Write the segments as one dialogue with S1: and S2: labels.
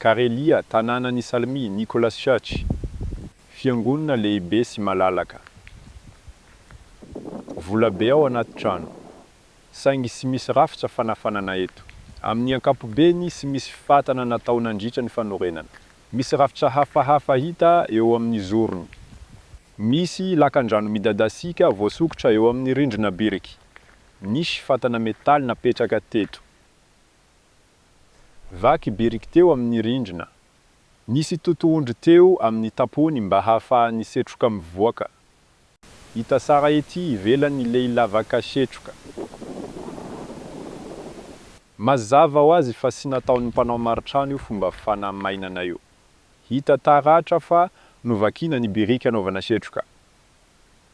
S1: Karelia, tanànan' i Salmi, Nicholas Church, fiangonana lehibe sy malalaka. Vola be ao anaty trano, saingy tsy misy rafitra fanafanana eto. Amin' ny ankapobeny, tsy misy fifatana natao nandritra ny fanorenana. Misy rafitra hafahafa hita eo amin' ny zorony. Misy lakandrano midadasika voasokitra eo amin' ny rindrina biriky. Nisy fatana metaly napetraka teto. Vaky biriky teo amin'ny rindrina. Nisy totohondry teo amin'ny tampony mba hahafahan'ny setroka mivoaka. Hita sara ety ivelany ilay lavaka setroka. Mazava ho azy fa tsy nataon'ny mpanao maritrano io fomba fanamainana io. Hita taratra fa novakiana ny biriky hanaovana setroka.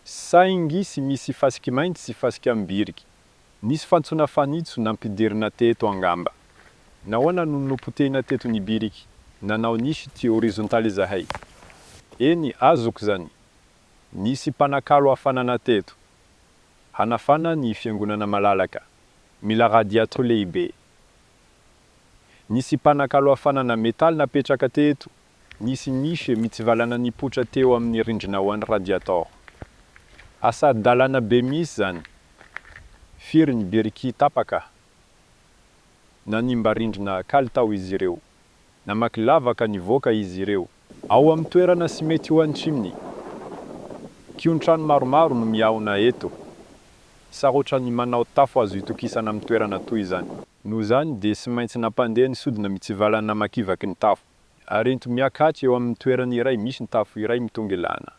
S1: Saingy tsy misy fasiky mainty sy fasika amin'ny biriky. Nisy fantsona fanitso nampidirina teto angamba. Nahoana no nopotehina teto ny biriky? Nanao niche ty horizontaly izahay. Eny, azoko izany. Nisy mpanakalo hafanana teto. Hanafana ny fiangonana malalaka. Mila radiato lehibe. Nisy mpanakalo hafanana metaly napetraka teto Nisy miche mitsivalana nipoitra teo amin'ny rindrina ho an'ny radiator. Asa dalana be mihitsy izany. Firy ny biriky tapaka? Nanimba rindrina kalitao izy ireo. Namaky lavaka nivoaka izy ireo. Ao amin'ny toerana sy mety ho an'ny chimney. Kion-trano maromaro no mihaona eto. Sarotra ny manao tafo azo itokisana amin'ny toerana toy izany. Noho izany dia tsy maintsy nampandeha ny sodina mitsivalana namakivaky ny tafo. ary ento miakatsa eo amin'ny toerana iray misy ny tafo iray mitongilana.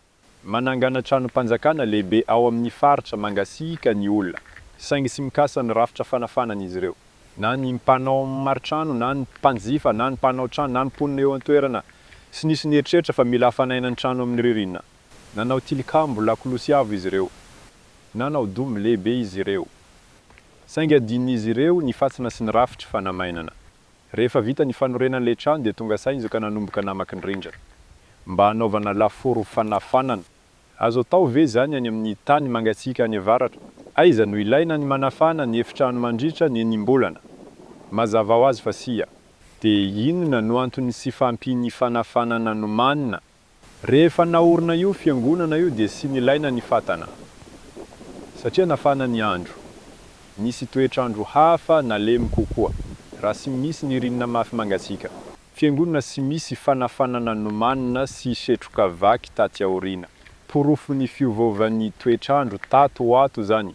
S1: Manangana tranom-panjakana lehibe ao amin'ny faritra mangasiaka ny olona, saingy tsy mikasa ny rafitra fanafanana izy ireo. Na ny mpanao maritrano, na ny mpanjifa, na ny mpanao trano, na ny mponina eo an-toerana, tsy nisy nieritreritra fa mila hafanaina ny trano amin'ny ririnina. Nanao tilikambo lakolosy avo izy ireo. Nanao domy lehibe izy ireo. Saingy adinon'izy ireo ny fantsona sy ny rafitry fanamainana. Rehefa vita ny fanorenana ilay trano dia tonga sahy izy ka nanomboka namaky ny rindrina mba hanaovana lafaoro fanafanana. Azo atao ve izany any amin'ny tany mangatsiaka any avaratra? Aiza no ilaina ny manafana ny efitrano mandritra ny enim-bolana? Mazava ho azy fa sia. Dia inona no antony sy fahampian'ny fanafanana nomanina Rehefa naorina io fiangonana io dia tsy nilaina ny fatana satria nafana ny andro. Nisy toetr'andro hafa nalemy kokoa raha tsy misy nirinina mafy mangatsiaka. Fiangonana tsy misy fanafanana nomanina sy setroka vaky taty aoriana. Porofon'ny fiovaovan'ny toetr'andro tato ho ato izany.